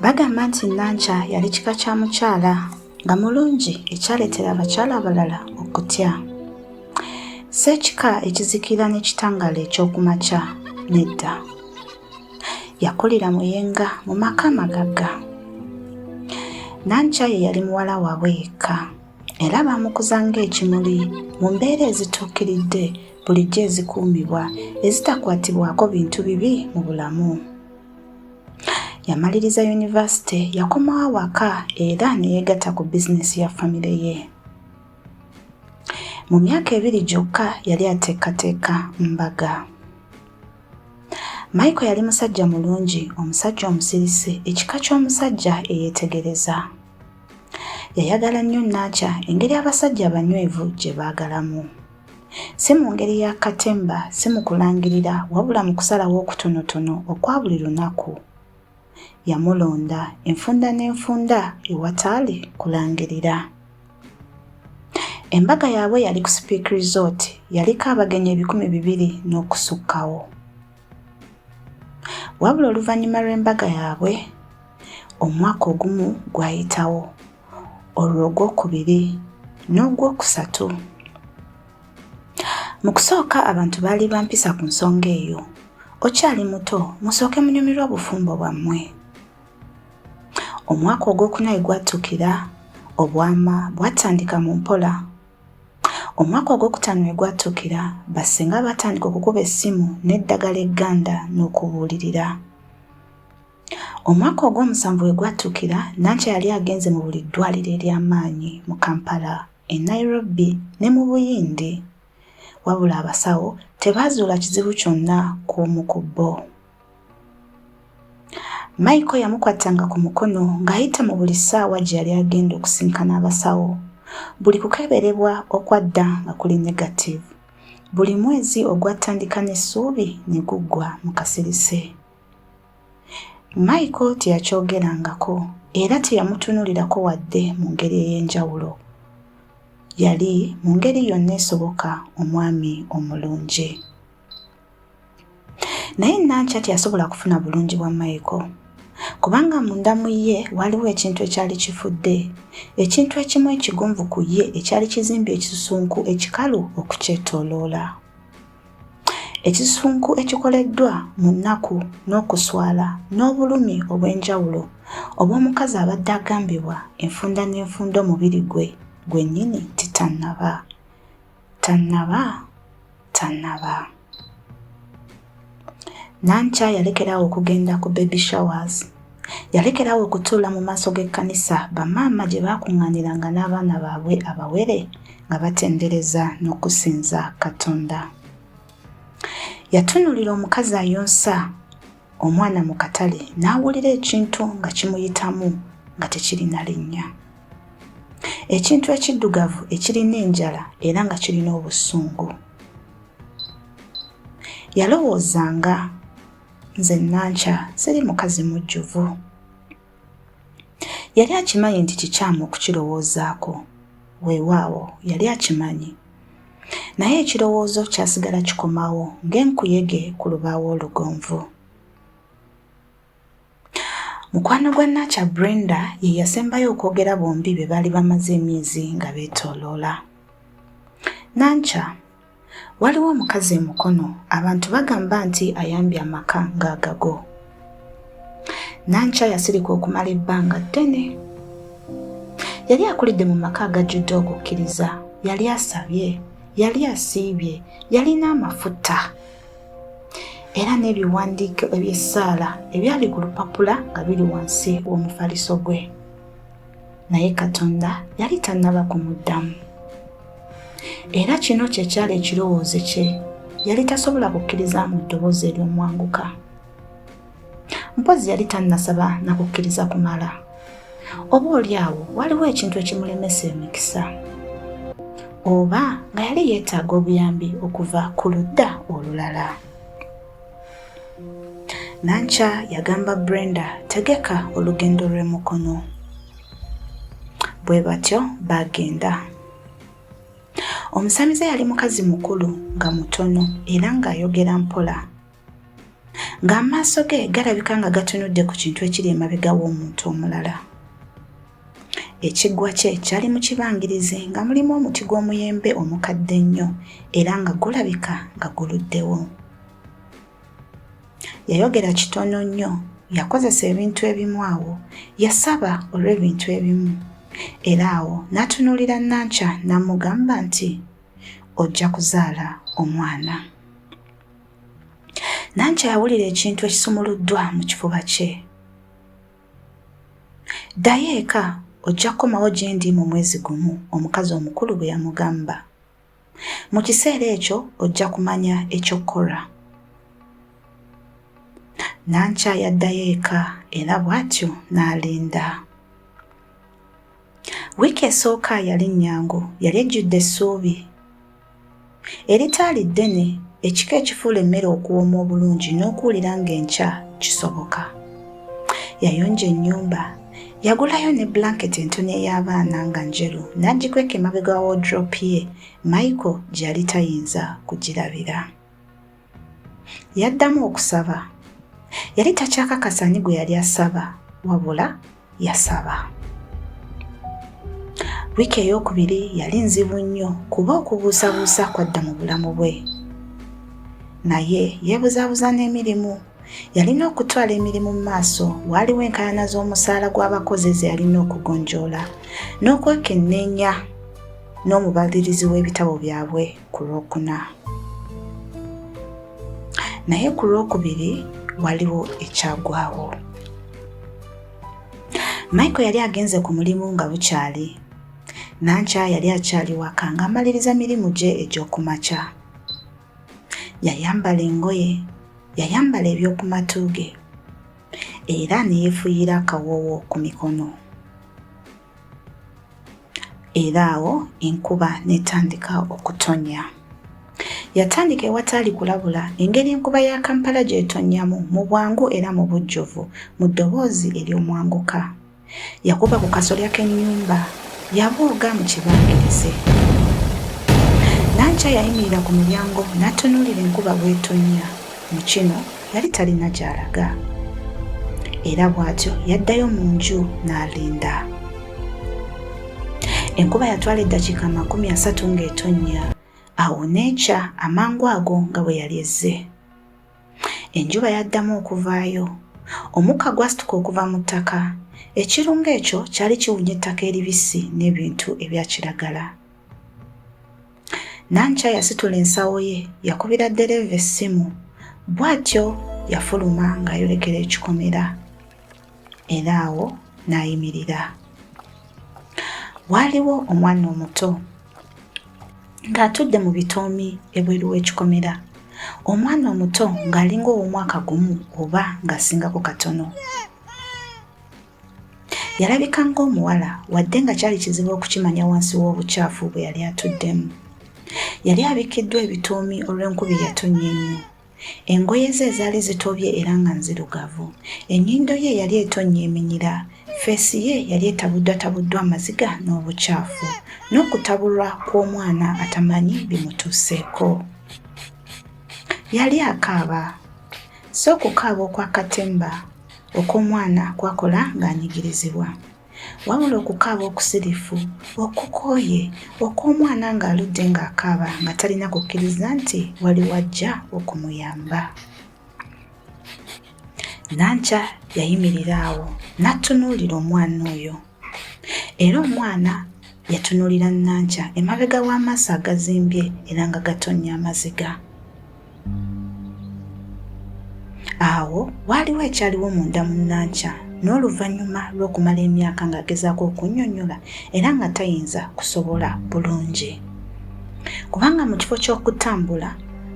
Bagamba nti Nankya yali kika kya mukyala nga mulungi ekyaleetera abakyala abalala okutya. Si ekika ekizikira n'ekitangaala eky'oku makya nedda. Yakulira Muyenga mu maka amagagga. Nankya ye yali muwala waabwe yekka era baamukuza ng'ekimuli mu mbeera ezituukiridde bulijjo ezikuumibwa ezitakwatibwako bintu bibi mu bulamu. Yamaliriza yunivasite yakomawo awaka era ne yeegatta ku bizinensi ya famire ye. Mu myaka ebiri gyokka yali ateekateeka mbaga. Michael yali musajja mulungi, omusajja omusirise, ekika ky'omusajja eyeetegereza. Yayagala nnyo Nankya engeri abasajja abanywevu gye baagalamu. Si mu ngeri ya katemba, si mu kulangirira, wabula mu kusalawo okutonotono okwa buli lunaku. Yamulonda, enfunda n'enfunda, ewataali kulangirira. Embaga yaabwe yali ku Speke Resort, yaliko abagenyi ebikumi bibiri n'okusukkawo. Wabula oluvannyuma lw'embaga yaabwe, omwaka ogumu gwayitawo. olwo ogwokubiri n'ogwokusatu mu kusooka abantu baali bampisa ku nsonga eyo okyali muto musooke munyumirwa obufumbo bwammwe omwaka ogwokuna we gwattukira obwama bwatandika mu mpola omwaka ogwokutaano we gwattukira bassinga baatandika okukuba essimu n'eddagala egganda n'okubuulirira Omwaka ogw'omusanvu we gwatuukira, Nankya yali agenze mu buli ddwaliro ery'amaanyi mu Kampala, e Nairobi ne mu Buyindi. Wabula abasawo tebaazuula kizibu kyonna ku omu ku bo. Maiko yamukwattanga ku mukono ng'ayita mu buli ssaawa gye yali agenda okusinkana abasawo. Buli kukeberebwa okwadda nga kuli negatiivu. Buli mwezi ogwatandika n'essuubi ne guggwa mu kasirise. Michael teyakyogerangako era teyamutunuulirako wadde mu ngeri ey'enjawulo. Yali mu ngeri yonna esoboka omwami omulungi. Naye Nankya teyasobola kufuna bulungi bwa Michael kubanga munda mu ye waaliwo ekintu ekyali kifudde, ekintu ekimu ekigonvu ku ye ekyali kizimbye ekisusunku ekikalu okukyetooloola. Ekisunku ekikoleddwa mu nnaku n'okuswala n'obulumi obw'enjawulo obw'omukazi abadde agambibwa enfunda n'enfunda omubiri gwe gwennyini nti tannaba tannaba tannaba Nankya yalekerawo okugenda ku baby showers Yalekerawo okutuula mu maaso g'ekkanisa bamaama gye baakuŋŋaaniranga n'abaana baabwe abawere nga batendereza n'okusinza Katonda. Yatunuulira omukazi ayonsa omwana mu katale n'awulira ekintu nga kimuyitamu nga tekirina linnya. Ekintu ekiddugavu ekirina enjala era nga kirina obusungu. Yalowoozanga Nze Nankya siri mukazi mujjuvu. Yali akimanyi nti kikyamu okukirowoozaako. Weewaawo, yali akimanyi. Naye ekirowoozo kyasigala kikomawo ng'enkuyege ku lubaawo olugonvu. Mukwano gwa Nankya Brenda ye yasembayo okwogera bombi bye baali bamaze emyezi nga beetooloola. Nankya. Waliwo omukazi e Mukono abantu bagamba nti ayambye amaka ng'agago. Nankya yasirika okumala ebbanga ddene. Yali akulidde mu maka agajjudde okukkiriza, yali asabye, yali asiibye, yalina amafuta era n'ebiwandiiko eby'essaala ebyali ku lupapula nga biri wansi w'omufaliso gwe. naye katonda yali tannaba kumuddamu era kino kye kyali ekirowoozo kye yali tasobola kukkiriza mu ddoboozi ery'omwanguka mpozzi yali tannasaba na kukkiriza kumala oba oli awo waliwo ekintu ekimulemesa emikisa oba nga yali yeetaaga obuyambi okuva ku ludda olulala Nankya yagamba Brenda tegeka olugendo lw'e Mukono. Bwe batyo baagenda. Omusamize yali mukazi mukulu nga mutono era ng'ayogera mpola. Ng'amaaso ge galabika nga gatunudde ku kintu ekiri emabega w'omuntu omulala. Ekiggwa kye kyali mu kibangirizi nga mulimu omuti gw'omuyembe omukadde ennyo era nga gulabika nga guluddewo. Yayogera kitono nnyo, yakozesa ebintu ebimu awo, yasaba olw'ebintu ebimu, era awo n'atunuulira Nankya n'amugamba nti, Ojja kuzaala omwana. Nankya yawulira ekintu ekisumuluddwa mu kifuba kye. Ddayo eka ojja kukomawo gye ndi mu mwezi gumu, omukazi omukulu bwe yamugamba. Mu kiseera ekyo ojja kumanya eky'okukola. Nankya yaddayo eka era bw'atyo n'alinda. Wiiki esooka yali nnyangu, yali ejjudde essuubi. Eritaali ddene, ekika ekifuula emmere okuwooma obulungi n'okuwulira ng'enkya kisoboka. Yayonja ennyumba. Yagulayo ne blanketi entono ey'abaana nga njeru n'agikweka emabega wa wodropu ye, Michael gye yali tayinza kugirabira. Yaddamu okusaba. Yali takyakakasa ani gwe yali asaba wabula yasaba. Wiiki ey'okubiri yali nzibu nnyo kuba okubuusabuusa kwadda mu bulamu bwe. Naye yeebuzaabuza n'emirimu. Yalina okutwala emirimu mu maaso, waaliwo enkaayana z'omusaala gw'abakozi ze yalina okugonjoola n'okwekenneenya n'omubalirizi w'ebitabo byabwe. ku lwokuna naye ku lwokubiri waliwo ekyagwawo michael yali agenze ku mulimu nga bukyali nankya yali akyali waka ng'amaliriza mirimu gye egy'okumakya yayambala engoye yayambala eby'oku matu ge era ne yeefuyiira akawoowo ku mikono era awo enkuba n'etandika okutonnya. Yatandika ewataali kulabula engeri enkuba ya Kampala gy'etonnyamu mu bwangu era mu bujjuvu mu ddoboozi ery'omwanguka. Yakuba ku kasolya k'ennyumba, yabooga mu kibangirize. Nankya yayimirira ku mulyango n'atunuulira enkuba bw'etonnya. Mu kino yali talina gy'alaga era bw'atyo yaddayo mu nju n'alinda enkuba yatwala eddakiika amakumi asatu ng'etonnya awo n'ekya amangu ago nga bwe yali ezze enjuba yaddamu okuvaayo omukka gwasituka okuva mu ttaka ekirungo ekyo kyali kiwunya ettaka eribisi n'ebintu ebya kiragala Nankya yasitula ensawo ye yakubira ddereeva essimu bw'atyo yafuluma ng'ayolekera ekikomera era awo n'ayimirira. Waaliwo omwana omuto ng'atudde mu bitoomi ebweru w'ekikomera omwana omuto ng'alinga ow'omwaka gumu oba ng'asingako katono. Yalabika ng'omuwala wadde nga kyali kizibu okukimanya wansi w'obukyafu bwe yali atuddemu. Yali abikkiddwa ebituumi olw'enkuba eyatonnya ennyo. Engoye ze ezaali zitobye era nga nzirugavu. Ennyindo ye yali etonnya eminyira. Ffeesi ye yali etabuddwatabuddwa amaziga n'obukyafu, n'okutabulwa kw'omwana atamanyi bimutuuseeko. Yali akaaba. Si okukaaba okw'akatemba, okw'omwana kwakola ng'anyigirizibwa. Wabula okukaaba okusirifu, okukooye, okw'omwana ng'aludde ng'akaaba nga talina kukkiriza nti waliwo ajja okumuyamba. Nankya yayimirira awo n'attunuulira omwana oyo. era omwana yatunulira nankya emabega w'amaaso agazimbye era nga gatonnya amaziga awo waaliwo ekyaliwo munda mu nankya n'oluvannyuma lw'okumala emyaka ng'agezaako okunnyonnyola era nga tayinza kusobola bulungi kubanga mu kifo ky'okutambula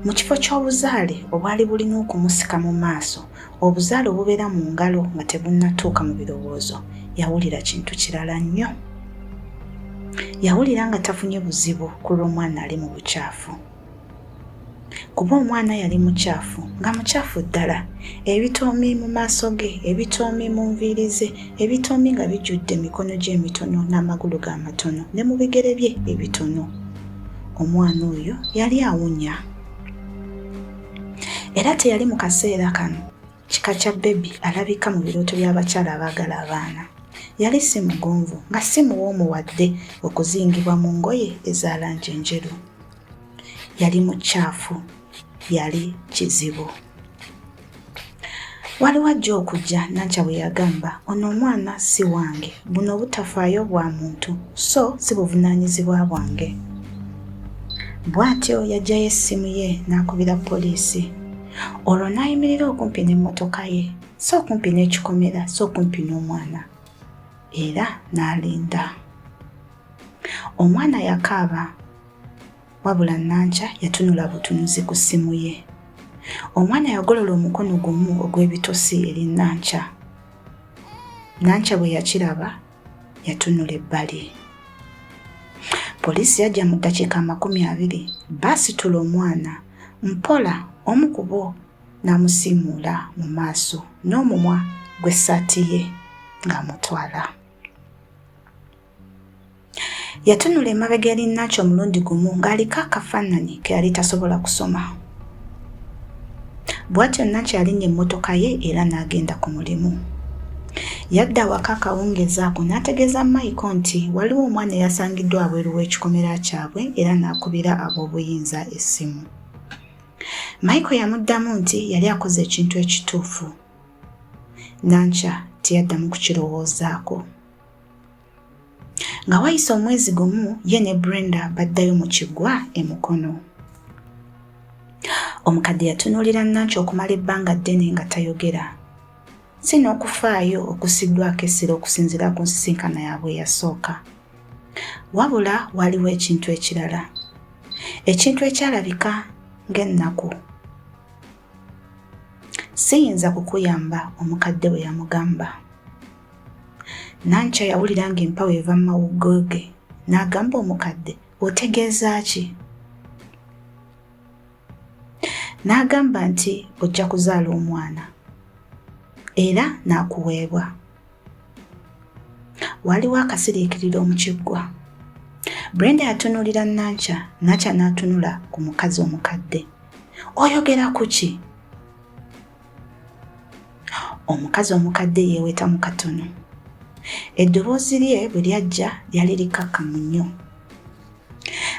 mu kifo ky'obuzaale obwali bulina okumusika mu maaso Obuzaale obubeera mu ngalo nga tebunnatuuka mu birowoozo yawulira kintu kirala nnyo. Yawulira nga tafunye buzibu ku lw'omwana ali mu bukyafu. Kuba omwana yali mukyafu, nga mukyafu ddala, ebitoomi mu maaso ge, ebitoomi mu nviiri ze, ebitoomi nga bijjudde emikono gye emitono n'amagulu ge amatono ne mu bigere bye ebitono. Omwana oyo yali awunya. era teyali mu kaseera kano kika kya bebi alabika mu birooto by'abakyala abaagala abaana yali si mugonvu nga si muwoomu wadde okuzingibwa mu ngoye eza langi enjeru yali mukyafu yali kizibu Waliwo ajja okujja, Nankya bwe yagamba. Ono omwana si wange. Buno obutafaayo bwa muntu, so si buvunaanyizibwa bwange. Bw'atyo yaggyayo essimu ye n'akubira poliisi. Olwo n'ayimirira okumpi n'emmotoka ye, si okumpi n'ekikomera, si okumpi n'omwana. Era n'alinda. Omwana yakaaba. Wabula Nankya yatunula butunuzi ku ssimu ye. Omwana yagolola omukono gumu ogw'ebitosi eri Nankya. Nankya bwe yakiraba yatunula ebbali. Poliisi yajja mu ddakiika amakumi abiri baasitula omwana mpola omu ku bo n'amusiimuula mu maaso n'omumwa gw'essaati ye ng'amutwala. Yatunula emabega eri Nacho omulundi gumu ng'aliko akafaananyi ke yali tasobola kusoma. Bw'atyo Nacho yalinnya emmotoka ye era n'agenda ku mulimu. Yadda awaka akawungeezi ako n'ategeeza Maiko nti waliwo omwana eyasangiddwa abweru w'ekikomera kyabwe era n'akubira ab'obuyinza essimu. Maiko yamuddamu nti yali akoze ekintu ekituufu. Nankya teyaddamu kukirowoozaako. Nga wayise omwezi gumu ye ne Brenda baddayo mu kiggwa e Mukono. Omukadde yatunuulira Nanki okumala ebbanga ddene nga tayogera. Si n'okufaayo okusiddwako essira okusinziira ku nsisinkana yaabwe eyasooka. Wabula waliwo ekintu ekirala. Ekintu ekyalabika ng'ennaku. Siyinza kukuyamba, omukadde bwe yamugamba. Nankya yawulira ng'empawo eva mu mawuggo ge n'agamba omukadde, otegeeza ki? N'agamba nti ojja kuzaala omwana era n'akuweebwa. Waaliwo akasiriikiriro mu kiggwa. Brenda yatunuulira Nankya, Nankya n'atunula ku mukazi omukadde. Oyogera ku ki? Omukazi omukadde yeeweta mu katono. Eddoboozi lye bwe lyajja lyali likkakkamu nnyo.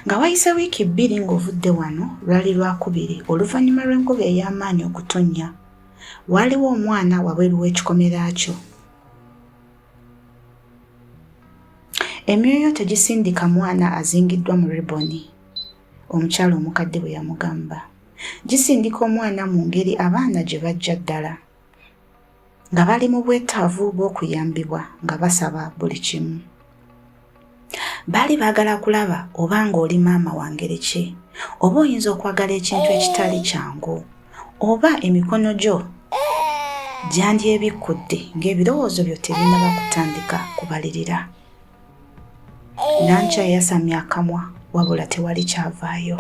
Nga wayise wiiki bbiri ng'ovudde wano lwali lwakubiri oluvannyuma lw'enkuba ey'amaanyi okutonnya Waaliwo omwana wabweru w'ekikomera kyo. Emyoyo tegisindika mwana azingiddwa mu riboni, omukyala omukadde bwe yamugamba. Gisindika omwana mu ngeri abaana gye bajja ddala, nga bali mu bwetaavu bw'okuyambibwa, nga basaba buli kimu. Baali baagala kulaba oba ng'oli maama wa ngeri ki, oba oyinza okwagala ekintu ekitali kyangu, oba emikono gyo gyandyebikkudde ng'ebirowoozo byo tebinnaba kutandika kubalirira. Nankya yasamya akamwa wabula tewali kyavaayo.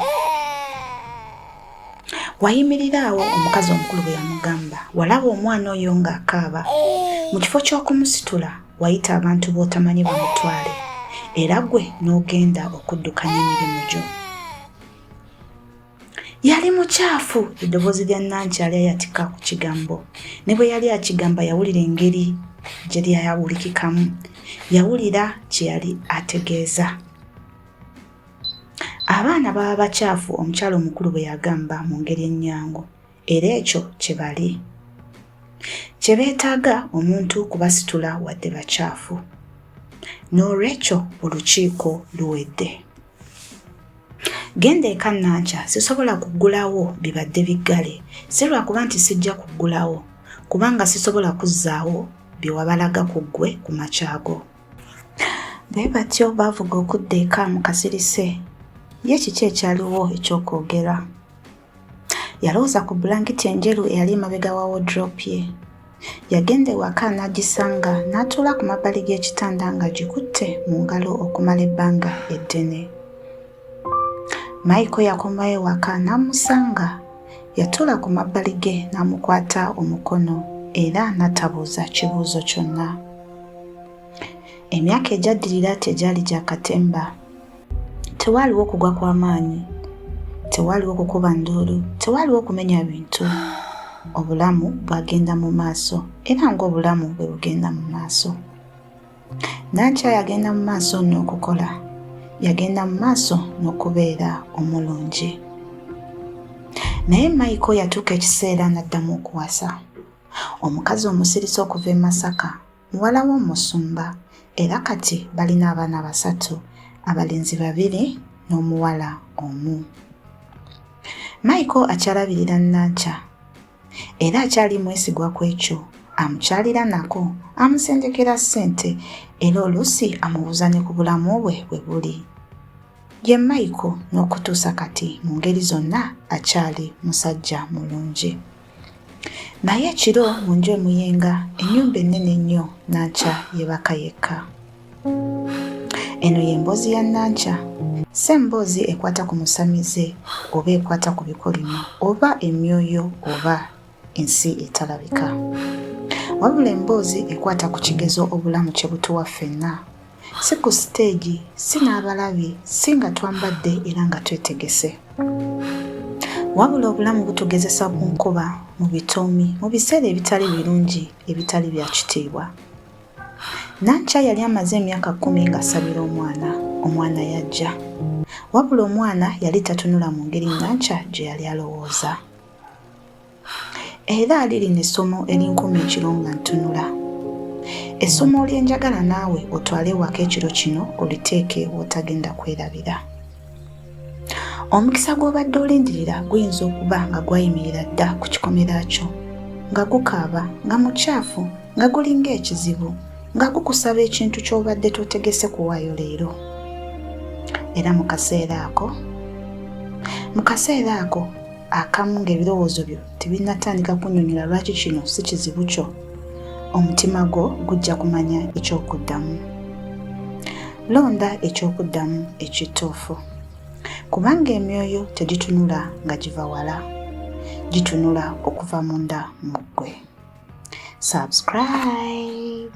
Wayimirira awo omukazi omukulu bwe yamugamba, walaba omwana oyo ng'akaaba. Mu kifo ky'okumusitula, wayita abantu b'otamanyi bamutwale era gwe n'ogenda okuddukanya emirimu gyo yali mukyafu eddoboozi lya nankyali ayatika ku kigambo ne bwe yali akigamba yawulira engeri gye lyayawulikikamu yawulira kye yali ategeeza abaana baba bakyafu omukyalo omukulu bwe yagamba mu ngeri ennyangu era ekyo kye bali kye beetaaga omuntu kubasitula wadde bakyafu n'olwekyo olukiiko luwedde genda eka nankya sisobola kuggulawo bibadde biggale si lwakuba nti sijja kuggulawo kubanga sisobola kuzzaawo bye wabalaga ku ggwe ku makyago bwe batyo baavuga okudda eka mu kasirise ye kiki ekyaliwo eky'okwogera Yalowooza ku bbulankiti enjeru eyali emabega wa wodrop ye. Yagenda ewaka n'agisanga n'atuula ku mabbali g'ekitanda ng'agikutte mu ngalo okumala ebbanga eddene. Maiko yakomawo ewaka n'amusanga. Yatuula ku mabbali ge n'amukwata omukono era n'atabuuza kibuuzo kyonna. Emyaka egyaddirira tegyali gya katemba. Tewaaliwo kugwa kwa maanyi, tewaaliwo kukuba nduulu, tewaaliwo kumenya bintu. Obulamu bwagenda mu maaso era ng'obulamu bwe bugenda mu maaso. Nankya yagenda mu maaso n'okukola, yagenda mu maaso n'okubeera omulungi. Naye Michael yatuuka ekiseera n'addamu okuwasa. Omukazi omusirisa okuva e Masaka Muwala w'omusumba era kati balina abaana basatu, abalenzi babiri n'omuwala omu. Michael akyalabirira Nankya era akyali mwesigwa ku ekyo amukyalira nako amusendekera ssente era oluusi amubuuza ne ku bulamu bwe bwe buli. Ye Michael n'okutuusa kati mu ngeri zonna akyali musajja mulungi. Naye ekiro mu nju emuyenga ennyumba ennene ennyo Nankya yeebaka yekka. Eno y'emboozi ya Nankya. Si emboozi ekwata ku musamize oba ekwata ku bikolimo oba emyoyo oba ensi etalabika. Wabula emboozi ekwata ku kigezo obulamu kye butuwa ffenna si ku siteegi si n'abalabi si nga twambadde era nga twetegese wabula obulamu butugezesa ku nkuba mu bitoomi mu biseera ebitali birungi ebitali bya kitiibwa nankya yali amaze emyaka kkumi ng'asabira omwana omwana yajja wabula omwana yali tatunula mu ngeri nankya gye yali alowooza era ali lino essomo erinkuma ekiro nga ntunula essomo lyenjagala naawe otwale ewaka ekiro kino oliteeke wotagenda kwerabira omukisa gw'obadde olindirira guyinza okuba nga gwayimirira dda ku kikomera kyo nga gukaaba nga mukyafu nga gulinga ekizibu nga gukusaba ekintu ky'obadde totegese kuwaayo leero era mu kaseera ako mu kaseera ako akamu ng'ebirowoozo byo tebinnatandika kunnyonnyola lwaki kino si kizibu kyo omutima gwo gujja kumanya eky'okuddamu londa eky'okuddamu ekituufu kubanga emyoyo tegitunula nga giva wala gitunula okuva munda mu ggwe subscribe